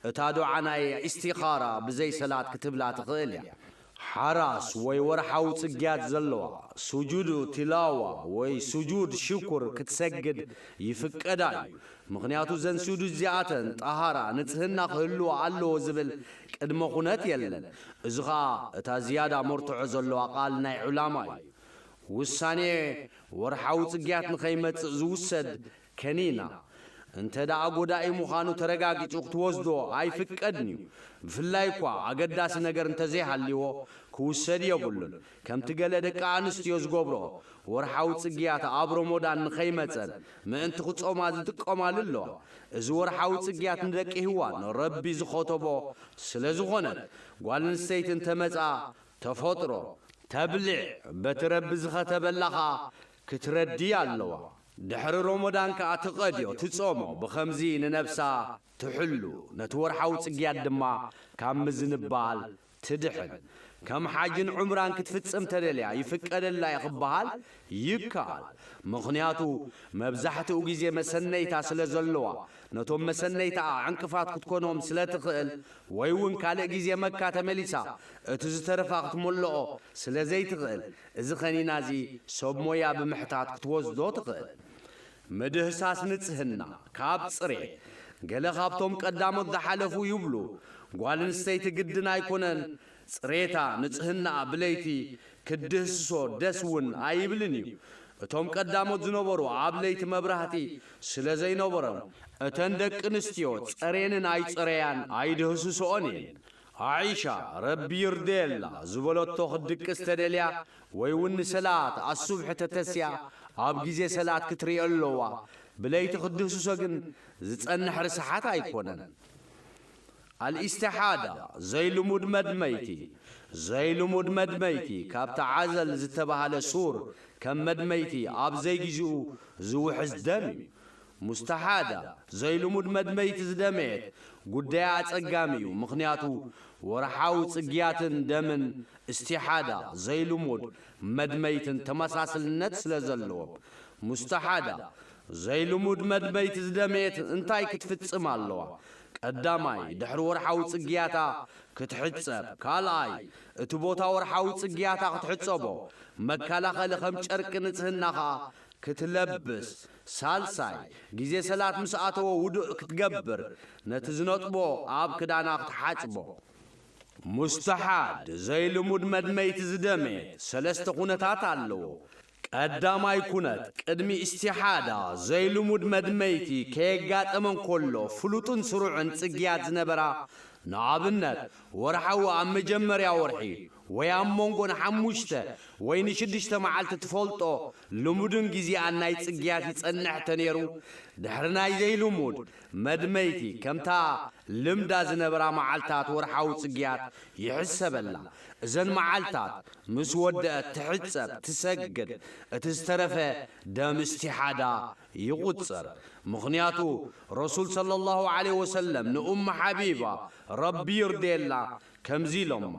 እታ ዱዓ ናይ ኢስቲኻራ ብዘይ ሰላት ክትብላ ትኽእል'ያ። ሓራስ ወይ ወርሓዊ ጽግያት ዘለዋ፣ ሱጁድ ቲላዋ ወይ ሱጁድ ሽኩር ክትሰግድ ይፍቀዳ እዩ፣ ምኽንያቱ እዘን ሱጁድ እዚኣተን ጠሃራ፣ ንጽህና፣ ክህልዋ ኣለዎ ዝብል ቅድመ ኩነት የለን። እዚ ከኣ እታ ዝያዳ መርትዖ ዘለዋ ቃል ናይ ዑላማ እዩ። ውሳኔ ወርሓዊ ጽግያት ንኸይመጽእ ዝውሰድ ከኒና እንተድኣ ጎዳኢ ምዃኑ ተረጋጊጹ ክትወስዶ ኣይፍቀድን'ዩ፣ ብፍላይ'ኳ ኣገዳሲ ነገር እንተዘይሃልይዎ ክውሰድ የብሉን፣ ከምቲ ገለ ደቂ ኣንስትዮ ዝገብርኦ ወርሓዊ ጽግያት ኣብ ሮሞዳን ንኸይመጸን ምእንቲ ክጾማ ዝጥቀማሉ ኣለዋ፣ እዚ ወርሓዊ ጽግያት ንደቂ ሂዋን ረቢ ዝኸተቦ ስለዝኾነት ጓልንስተይቲ እንተመጽኣ ተፈጥሮ፣ ተብልዕ፣ በቲ ረቢ ዝኸተበላ ከኣ ክትረዲ ኣለዋ ድሕሪ ሮሞዳን ከኣ ትቀድዮ ትጾሞ ብከምዚ ንነብሳ ትሕሉ ነቲ ወርሓዊ ጽግያት ድማ ካብ ምዝንባል ትድሕን ከም ሓጅን ዑምራን ክትፍጽም ተደልያ ይፍቀደላ ዩ ክበሃል ይከኣል ምክንያቱ መብዛሕትኡ ግዜ መሰነይታ ስለ ዘለዋ ነቶም መሰነይታኣ ዕንቅፋት ክትኮኖም ስለ ትክእል ወይ ውን ካልእ ግዜ መካ ተመሊሳ እቲ ዝተረፋ ክትመሎኦ ስለ ዘይትክእል እዚ ከኒና እዚ ሰብ ሞያ ብምሕታት ክትወስዶ ትኽእል። ምድህሳስ ንጽህና፣ ካብ ጽሬት፣ ገለ ካብቶም ቀዳሞት ዝሓለፉ ይብሉ፣ ጓል ኣንስተይቲ ግድን ኣይኮነን ጽሬታ፣ ንጽህናኣ፣ ብለይቲ ክትድህስሶ ደስ ውን ኣይብልን እዩ። እቶም ቀዳሞት ዝነበሩ ኣብ ለይቲ መብራህቲ ስለ ዘይነበሮም፣ እተን ደቂ ኣንስትዮ ጸሬንን ኣይጸረያን ኣይድህስስኦን እየን። ዓኢሻ፣ ረቢ ይርደየላ፣ ዝበለቶ ክትድቅስ ተደልያ ወይ ውን ንሰላት ኣሱብሒ ተተስያ ኣብ ግዜ ሰላት ክትርእዮ ኣለዋ፣ ብለይቲ ክትድህስሶ ግን ዝጸንሕ ርስሓት ኣይኮነን። ኣልኢስተሓዳ፣ ዘይልሙድ መድመይቲ፣ ዘይልሙድ መድመይቲ ካብቲ ዓዘል ዝተባህለ ሱር ከም መድመይቲ ኣብ ዘይግዜኡ ዝውሕዝ ደም እዩ። ሙስተሓዳ፣ ዘይልሙድ መድመይቲ ዝደመየት፣ ጉዳያ ኣጸጋሚ እዩ፣ ምኽንያቱ ወርሓዊ ጽግያትን ደምን እስቲሓዳ፣ ዘይልሙድ መድመይትን ተመሳስልነት ስለ ዘለዎም። ሙስተሓዳ፣ ዘይልሙድ መድመይቲ ዝደመየት እንታይ ክትፍጽም ኣለዋ? ቀዳማይ፣ ድሕሪ ወርሓዊ ጽግያታ ክትሕጸብ፣ ካልኣይ፣ እቲ ቦታ ወርሓዊ ጽግያታ ክትሕጸቦ፣ መከላኸሊ ከም ጨርቂ ንጽህና ከኣ ክትለብስ፣ ሳልሳይ፣ ግዜ ሰላት ምስ ኣተወ ውዱእ ክትገብር፣ ነቲ ዝነጥቦ ኣብ ክዳና ክትሓጽቦ። ሙስተሓድ፣ ዘይልሙድ መድመይቲ ዝደመየት፣ ሰለስተ ኩነታት ኣለዎ። ቀዳማይ ኩነት፣ ቅድሚ ኢስቲሓዳ፣ ዘይልሙድ መድመይቲ ከየጋጠመ እንከሎ ፍሉጥን ስሩዕን ጽግያት ዝነበራ፣ ንኣብነት ወርሓዊ ኣብ መጀመርያ ወርሒ፣ ወይ ኣብ መንጎ ንሓሙሽተ ወይ ንሽዱሽተ መዓልቲ ትፈልጦ ልሙድን ግዜኣን ናይ ጽግያት ይጸንሕ ተኔሩ ድሕሪ ናይ ዘይልሙድ፣ መድመይቲ፣ ከምታ ልምዳ ዝነበራ መዓልታት ወርሓዊ ጽግያት ይሕሰበላ። እዘን መዓልታት ምስ ወደኣት ትሕጸብ፣ ትሰግድ፣ እቲ ዝተረፈ ደም እስቲሓዳ ይቑጸር። ምኽንያቱ ረሱል ሰለላሁ ዓለይሂ ወሰለም ንኡም ሓቢባ፣ ረቢ ይርደየላ፣ ከምዚ ኢሎማ፣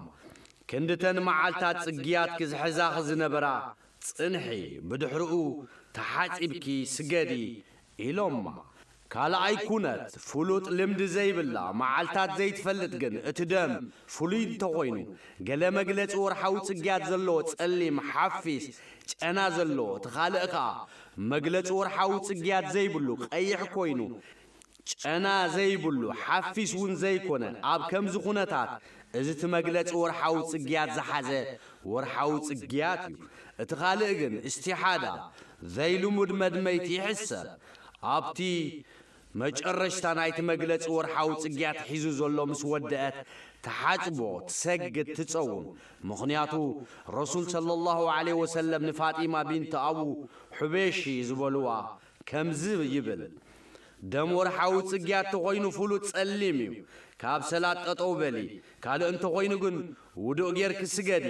ክንድተን መዓልታት ጽግያትኪ ዝሕዛኺ ዝነበራ ጽንሒ፣ ብድሕርኡ ተሓጺብኪ ስገዲ ኢሎማ። ካልኣይ ኩነት፣ ፍሉጥ ልምዲ ዘይብላ፣ መዓልታት ዘይትፈልጥ ግን እቲ ደም ፍሉይ እንተኾይኑ፣ ገለ መግለጺ ወርሓዊ ጽግያት ዘለዎ ጸሊም ሓፊስ ጨና ዘለዎ፣ እቲ ካልእ ከኣ መግለጺ ወርሓዊ ጽግያት ዘይብሉ ቀይሕ ኮይኑ ጨና ዘይብሉ፣ ሓፊስ ውን ዘይኮነ፣ ኣብ ከምዚ ኩነታት እዚ እቲ መግለጺ ወርሓዊ ጽግያት ዝሓዘ ወርሓዊ ጽግያት እዩ። እቲ ካልእ ግን እስቲሓዳ፣ ዘይልሙድ መድመይቲ ይሕሰብ። ኣብቲ መጨረሽታ ናይቲ መግለጺ ወርሓዊ ጽግያት ሒዙ ዘሎ ምስ ወደኣት ትሓጽቦ፣ ትሰግድ፣ ትጸውም። ምኽንያቱ ረሱል ሰለላሁ ዓለይሂ ወሰለም ንፋጢማ ቢንት ኣቡ ሑበይሽ ዝበሉዋ፣ ከምዚ ይብል፣ ደም ወርሓዊ ጽግያት ተኾይኑ ፍሉጥ ጸሊም እዩ፣ ካብ ሰላት ጠጠው በሊ፣ ካልእ እንተኾይኑ ግን ውዱእ ጌርኪ ስገዲ፣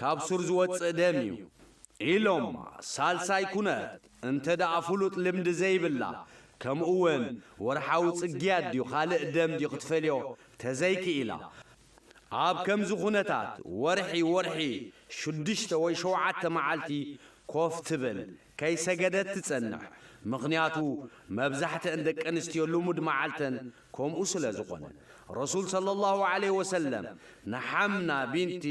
ካብ ሱር ዝወጽእ ደም እዩ። ኢሎማ። ሳልሳይ ኩነት፣ እንተድኣ ፍሉጥ ልምዲ ዘይብላ፣ ከምኡ'ውን ወርሓዊ ጽግያት ድዩ ካልእ ደም ድዩ ክትፈልዮ ተዘይክኢላ፣ ኣብ ከምዚ ኩነታት ወርሒ ወርሒ ሽዱሽተ ወይ ሸውዓተ መዓልቲ ኮፍ ትብል ከይሰገደት ትጸንሕ ምኽንያቱ መብዛሕትኣን ደቂ ኣንስትዮ ልሙድ መዓልተን ከምኡ ስለ ዝኾነ ረሱል ሰለላሁ ዓለይሂ ወሰለም ንሓምና ቢንቲ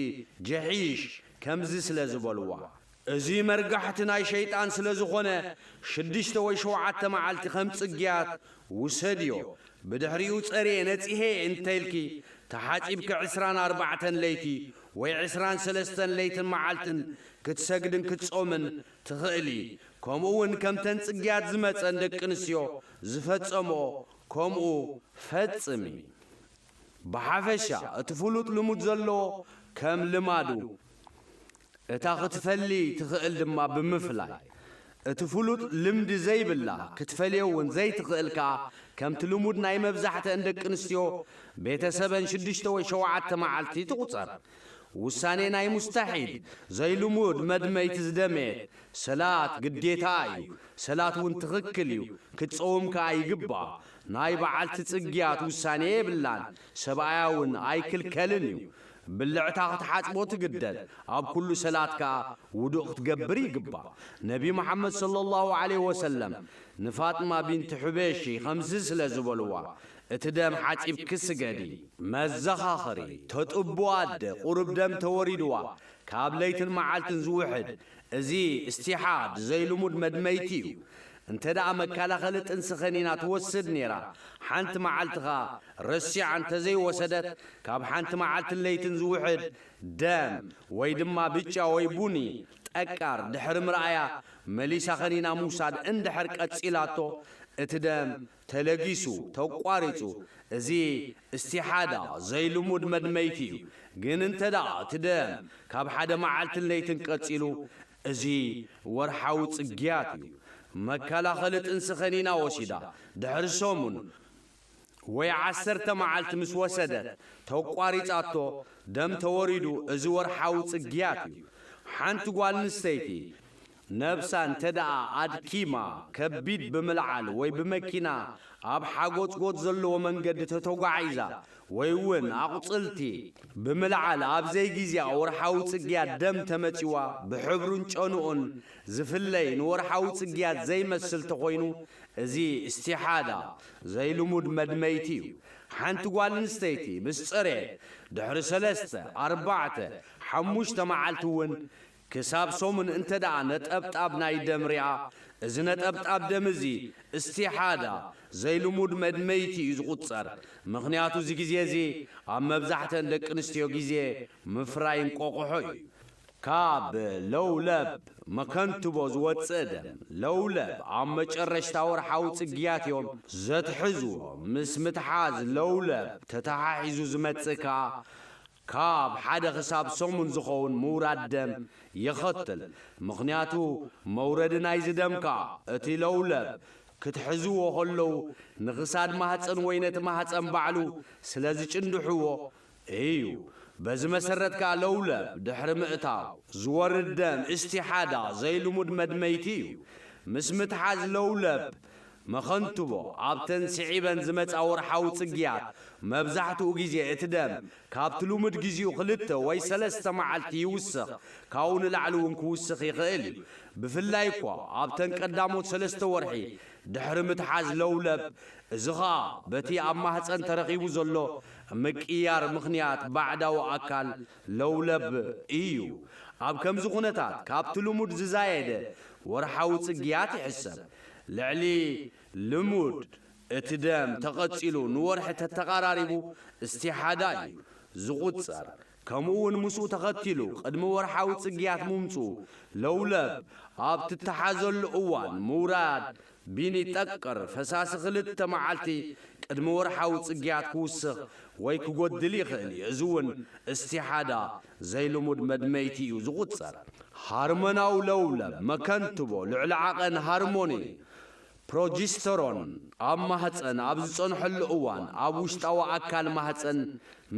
ጀሒሽ ከምዚ ስለ ዝበልዋ እዚ መርጋሕቲ ናይ ሸይጣን ስለ ዝኾነ ሽዱሽተ ወይ ሸውዓተ መዓልቲ ከም ጽግያት ውሰድዮ ብድሕሪኡ ጸርየ ነጽሔ እንተኢልኪ ተሓጺብኪ ዕስራን ኣርባዕተን ለይቲ ወይ ዕስራን ሰለስተን ለይትን መዓልትን ክትሰግድን ክትጾምን ትኽእሊ ከምኡ ውን ከምተን ጽግያት ዝመጸን ደቂ ኣንስትዮ ዝፈጸምኦ ከምኡ ፈጽሚ ብሓፈሻ እቲ ፍሉጥ ልሙድ ዘለዎ ከም ልማዱ እታ ክትፈሊ ትኽእል ድማ ብምፍላይ እቲ ፍሉጥ ልምዲ ዘይብላ ክትፈልዮ ውን ዘይትኽእል ከኣ ከምቲ ልሙድ ናይ መብዛሕትኣን ደቂ ኣንስትዮ ቤተሰበን ሽዱሽተ ወይ ሸውዓተ መዓልቲ ትቑጸር። ውሳኔ ናይ ሙስታሒል፣ ዘይልሙድ፣ መድመይቲ ዝደመየት ሰላት ግዴታኣ እዩ። ሰላት ውን ትኽክል እዩ፣ ክትጸውም ከኣ ይግብኣ። ናይ በዓልቲ ጽግያት ውሳኔ የብላን፣ ሰብኣያ ውን ኣይክልከልን እዩ። ብልዕታ ክትሓጽቦ ትግደድ፣ ኣብ ኩሉ ሰላት ከኣ ውዱእ ክትገብር ይግባእ። ነቢ መሓመድ ሰለላሁ ዓለይሂ ወሰለም ንፋጥማ ቢንት ሑበይሺ ከምዚ ስለ ዝበልዋ፣ እቲ ደም ሓጺብኪ ስገዲ። መዘኻኸሪ፣ ተጥቡ ኣደ ቁሩብ ደም ተወሪድዋ ካብ ለይትን መዓልትን ዝውሕድ፣ እዚ እስቲሓድ፣ ዘይልሙድ መድመይቲ እዩ። እንተደኣ መከላኸሊ ጥንሲ ከኒና ትወስድ ኔራ፣ ሓንቲ መዓልቲ ከኣ ረሲዓ እንተዘይወሰደት ካብ ሓንቲ መዓልትን ለይትን ዝውሕድ ደም ወይ ድማ ብጫ ወይ ቡኒ ጠቃር ድሕሪ ምርኣያ መሊሳ ከኒና ምውሳድ እንድሕር ቀጺላቶ እቲ ደም ተለጊሱ፣ ተቋሪጹ፣ እዚ እስቲሓዳ ዘይልሙድ መድመይቲ እዩ። ግን እንተደኣ እቲ ደም ካብ ሓደ መዓልትን ለይትን ቀጺሉ እዚ ወርሓዊ ጽግያት እዩ። መከላኸሊ ጥንሲ ከኒና ወሲዳ ድሕሪ ሰሙን፣ ወይ ዓሰርተ መዓልቲ ምስ ወሰደት ተቋሪጻቶ ደም ተወሪዱ እዚ ወርሓዊ ጽግያት እዩ። ሓንቲ ጓል ኣንስተይቲ ነብሳ እንተድኣ ኣድኪማ ከቢድ ብምልዓል ወይ ብመኪና ኣብ ሓጎጽጎጽ ዘለዎ መንገዲ ተተጓዒዛ ወይ ውን ኣቁጽልቲ ብምልዓል ኣብ ዘይጊዜኣ ወርሓዊ ጽግያት ደም ተመጺዋ ብሕብሩን ጨንኡን ዝፍለይ ንወርሓዊ ጽግያት ዘይመስል ተኮይኑ እዚ እስቲሓዳ ዘይልሙድ መድመይቲ'ዩ። ሓንቲ ጓል ኣንስተይቲ ምስ ጸርየት፣ ድሕሪ ሰለስተ፣ ኣርባዕተ፣ ሓሙሽተ መዓልቲ'ውን ክሳብ ሰሙን እንተድኣ ነጠብጣብ ናይ ደም ሪኣ፣ እዚ ነጠብጣብ ደም እዚ እስቲሓዳ፣ ዘይልሙድ መድመይቲ፣ እዩ ዝቑጸር። ምኽንያቱ እዚ ግዜ'ዚ ኣብ መብዛሕተን ደቂ ኣንስትዮ ግዜ ምፍራይ እንቆቑሖ እዩ። ካብ ለውለብ መከንትቦ ዝወጽእ ደም ለውለብ ኣብ መጨረሽታ ወርሓዊ ጽግያት እዮም ዘትሕዝዎ። ምስ ምትሓዝ ለውለብ ተተሓሒዙ ዝመጽእ ከኣ ካብ ሓደ ክሳብ ሰሙን ዝኸውን ምውራድ ደም የኸትል። ምኽንያቱ መውረዲ ናይዚ ደም ከኣ እቲ ለውለብ ክትሕዝዎ ከለዉ ንክሳድ ማህጸን ወይ ነቲ ማህጸን ባዕሉ ስለዝጭንድሕዎ እዩ። በዚ መሰረት ከኣ ለውለብ፣ ድሕሪ ምእታው፣ ዝወርድ ደም፣ ኢስቲሓዳ፣ ዘይልሙድ መድመይቲ እዩ። ምስ ምትሓዝ ለውለብ፣ መኸንትቦ፣ ኣብተን ስዒበን ዝመጻ ወርሓዊ ጽግያት፣ መብዛሕትኡ ግዜ እቲ ደም ካብቲ ልሙድ ግዜኡ ክልተ ወይ ሰለስተ መዓልቲ ይውስኽ፣ ካብኡ ንላዕሊ እውን ክውስኽ ይኽእል እዩ። ብፍላይ እኳ ኣብተን ቀዳሞት ሰለስተ ወርሒ ድሕሪ ምትሓዝ ለውለብ፣ እዚ ኸኣ በቲ ኣብ ማህጸን ተረኺቡ ዘሎ ምቅይያር ምኽንያት ባዕዳዊ ኣካል ለውለብ ኢዩ። ኣብ ከምዚ ኩነታት ካብቲ ልሙድ ዝዛየደ ወርሓዊ ጽግያት ይሕሰብ። ልዕሊ ልሙድ እቲ ደም ተቐጺሉ ንወርሒ ተተቓራሪቡ እስቲሓዳ ኢዩ ዝቑጸር። ከምኡ'ውን ምስኡ ተኸቲሉ ቅድሚ ወርሓዊ ጽግያት ምምጽኡ፣ ለውለብ ኣብ ትተሓዘሉ እዋን ምውራድ ቢኒ ጠቅር ፈሳሲ ክልተ መዓልቲ ቅድሚ ወርሓዊ ጽግያት ክውስኽ ወይ ክጎድል ይኽእል እዩ፣ እዚ'ውን እስቲሓዳ ዘይልሙድ መድመይቲ እዩ ዝቑጸር። ሃርመናዊ ለውለብ መከንትቦ ልዕሊ ዓቐን ሃርሞን እዩ ፕሮጂስተሮን ኣብ ማህጸን ኣብ ዝጸንሐሉ እዋን ኣብ ውሽጣዊ ኣካል ማህጸን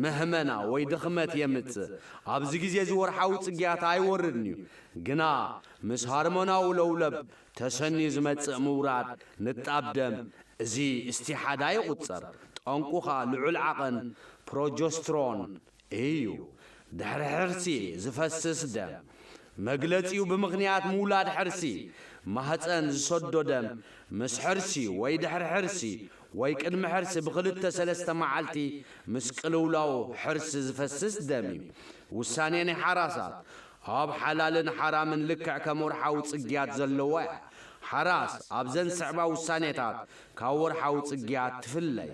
መህመና ወይ ድኽመት የምጽእ። ኣብዚ ግዜ እዚ ወርሓዊ ጽግያት ኣይወርድን'ዩ፣ ግና ምስ ሆርሞናዊ ለውለብ ተሰንዩ ዝመጽእ ምውራድ ንጣብ ደም እዚ እስቲሓዳ ይቑጸር፣ ጠንቁ ከኣ ልዑል ዓቐን ፕሮጆስትሮን እዩ። ድሕሪ ሕርሲ ዝፈስስ ደም መግለጺኡ ብምኽንያት ምውላድ ሕርሲ ማህጸን ዝሰዶ ደም ምስ ሕርሲ ወይ ድሕሪ ሕርሲ ወይ ቅድሚ ሕርሲ ብክልተ ሰለስተ መዓልቲ ምስ ቅልውላው ሕርሲ ዝፈስስ ደም እዩ። ውሳኔ ናይ ሓራሳት ኣብ ሓላልን ሓራምን ልክዕ ከም ወርሓዊ ጽግያት ዘለዎ እያ። ሓራስ ኣብዘን ዝስዕባ ውሳኔታት ካብ ወርሓዊ ጽግያት ትፍለይ።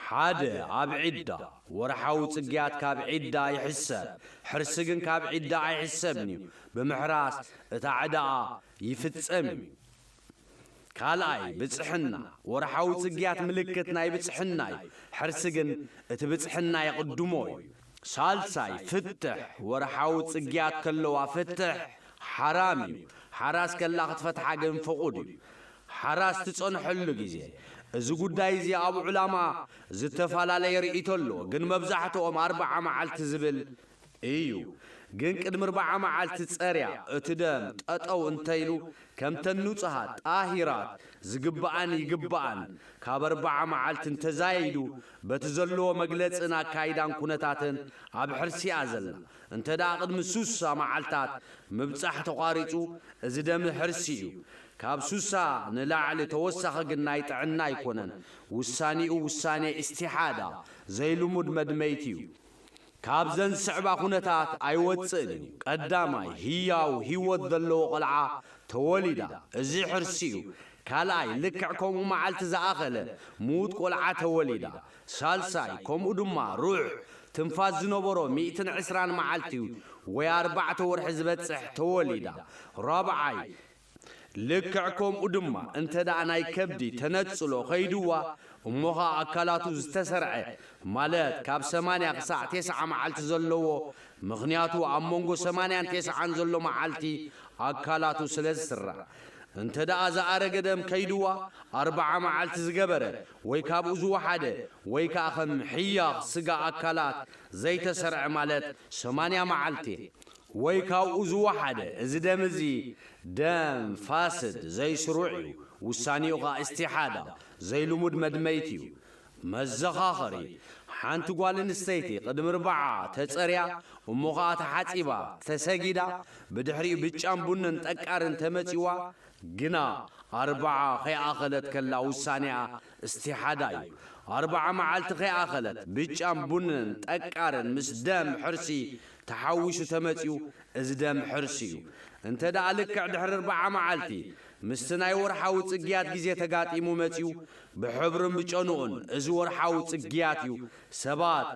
ሓደ ኣብ ዒዳ፣ ወርሓዊ ጽግያት ካብ ዒዳ ይሕሰብ፣ ሕርሲ ግን ካብ ዒዳ ኣይሕሰብን'ዩ፣ ብምሕራስ እታ ዕዳኣ ይፍጸም'ዩ። ካልኣይ፣ ብጽሕና፣ ወርሓዊ ጽግያት ምልክት ናይ ብጽሕና'ዩ፣ ሕርሲ ግን እቲ ብጽሕና የቕድሞ'ዩ። ሳልሳይ፣ ፍትሕ፣ ወርሓዊ ጽግያት ከለዋ ፍትሕ ሓራም'ዩ፣ ሓራስ ከላ ክትፈትሓ ግን ፍቑድ'ዩ። ሓራ ዝትጸንሐሉ ግዜ እዚ ጉዳይ እዚ ኣብ ዑላማ ዝተፋላለየ ርኢቶ ኣሎ ግን መብዛሕትኦም ኣርብዓ መዓልቲ ዝብል እዩ ግን ቅድሚ ርብዓ መዓልቲ ጸርያ እቲ ደም ጠጠው እንተኢሉ ከምተን ኑጹሃት ጣሂራት ዝግብኣን ይግብኣን ካብ ኣርብዓ መዓልቲ እንተዛይዱ በቲ ዘለዎ መግለጽን ኣካይዳን ኩነታትን ኣብ ሕርሲ'ያ ዘላ እንተ ቅድሚ ሱሳ መዓልታት ምብጻሕ ተቋሪጹ እዚ ደም ሕርሲ እዩ ካብ ሱሳ ንላዕሊ ተወሳኺ ግን ናይ ጥዕና ኣይኮነን ውሳኔኡ ውሳኔ ኢስቲሓዳ ዘይልሙድ መድመይቲ እዩ ካብዘን ዝስዕባ ኩነታት ኣይወጽእን እዩ ቀዳማይ ህያው ሂወት ዘለዎ ቆልዓ ተወሊዳ እዚ ሕርሲ እዩ ካልኣይ ልክዕ ከምኡ መዓልቲ ዝኣኸለ ምዉት ቆልዓ ተወሊዳ ሳልሳይ ከምኡ ድማ ሩዕ ትንፋስ ዝነበሮ ሚእትን ዕስራን መዓልቲ ወይ ኣርባዕተ ወርሒ ዝበጽሕ ተወሊዳ ራብዓይ ልክዕ ከምኡ ድማ እንተድኣ ናይ ከብዲ ተነጽሎ ከይድዋ እሞ ኸኣ ኣካላቱ ዝተሰርዐ ማለት ካብ ሰማንያ ክሳዕ ቴስዓ መዓልቲ ዘለዎ ምኽንያቱ ኣብ መንጎ ሰማንያን ቴስዓን ዘሎ መዓልቲ ኣካላቱ ስለ ዝስራዕ እንተድኣ ዝኣረገ ደም ከይድዋ ኣርብዓ መዓልቲ ዝገበረ ወይ ካብኡ ዝወሓደ ወይ ከኣ ከም ሕያኽ ስጋ ኣካላት ዘይተሰርዐ ማለት ሰማንያ መዓልቲ ወይ ካብኡ ዝወሓደ፣ እዚ ደም እዚ ደም ፋስድ፣ ዘይስሩዕ፣ እዩ፣ ውሳኔኡ ከኣ ኢስቲሓዳ፣ ዘይልሙድ መድመይቲ፣ እዩ። መዘኻኸሪ፣ ሓንቲ ጓል ኣንስተይቲ ቅድሚ ርብዓ ተጸርያ እሞ ከኣ ተሓጺባ ተሰጊዳ ብድሕሪኡ ብጫን ቡንን ጠቃርን ተመጺዋ ግና ኣርብዓ ከይኣኸለት ከላ ውሳኔኣ ኢስቲሓዳ እዩ። ኣርብዓ መዓልቲ ከይኣኸለት ብጫን ቡንን ጠቃርን ምስ ደም ሕርሲ ተሓዊሱ ተመጺኡ እዚ ደም ሕርሲ እዩ። እንተ ደኣ ልክዕ ድሕሪ ኣርብዓ መዓልቲ ምስቲ ናይ ወርሓዊ ጽግያት ግዜ ተጋጢሙ መጺኡ፣ ብሕብሩን ብጨንኡን እዚ ወርሓዊ ጽግያት እዩ፣ ሰባት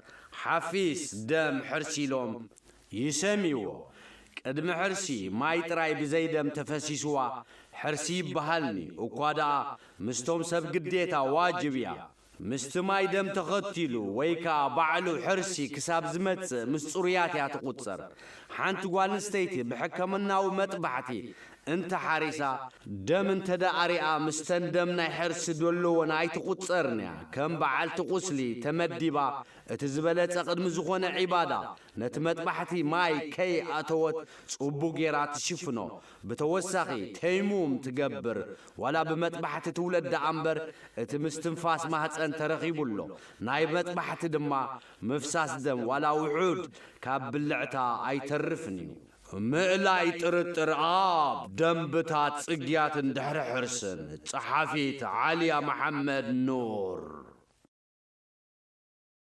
ሓፊስ ደም ሕርሲ ኢሎም ይሰምይዎ። ቅድሚ ሕርሲ ማይ ጥራይ ብዘይ ደም ተፈሲስዋ ሕርሲ ይበሃልኒ፣ እኳ ደኣ ምስቶም ሰብ ግዴታ ዋጅብ እያ። ምስቲ ማይ ደም ተኸቲሉ ወይ ከኣ ባዕሉ ሕርሲ ክሳብ ዝመጽእ ምስ ጽሩያት እያ ትቑጸር። ሓንቲ ጓልንስተይቲ ብሕከምናዊ መጥባሕቲ እንተ ሓሪሳ፣ ደም እንተደኣ ኣሪኣ ምስተን ደም ናይ ሕርሲ ደሎወን ኣይትቑጸርን እያ፣ ከም በዓልቲ ቑስሊ ተመዲባ እቲ ዝበለጸ ቅድሚ ዝኾነ ዒባዳ ነቲ መጥባሕቲ ማይ ከይ ኣእተወት ጽቡቕ ጌራ ትሽፍኖ፣ ብተወሳኺ ተይሙም ትገብር ዋላ ብመጥባሕቲ ትውለድ ደኣምበር እቲ ምስትንፋስ ማህጸን ተረኺቡ ኣሎ። ናይ መጥባሕቲ ድማ ምፍሳስ ደም ዋላ ውሑድ ካብ ብልዕታ ኣይተርፍን እዩ። ምእላይ ጥርጥር ኣብ ደምብታት ጽግያትን ድሕሪ ሕርስን፣ ጸሓፊት ዓልያ መሓመድ ኑር።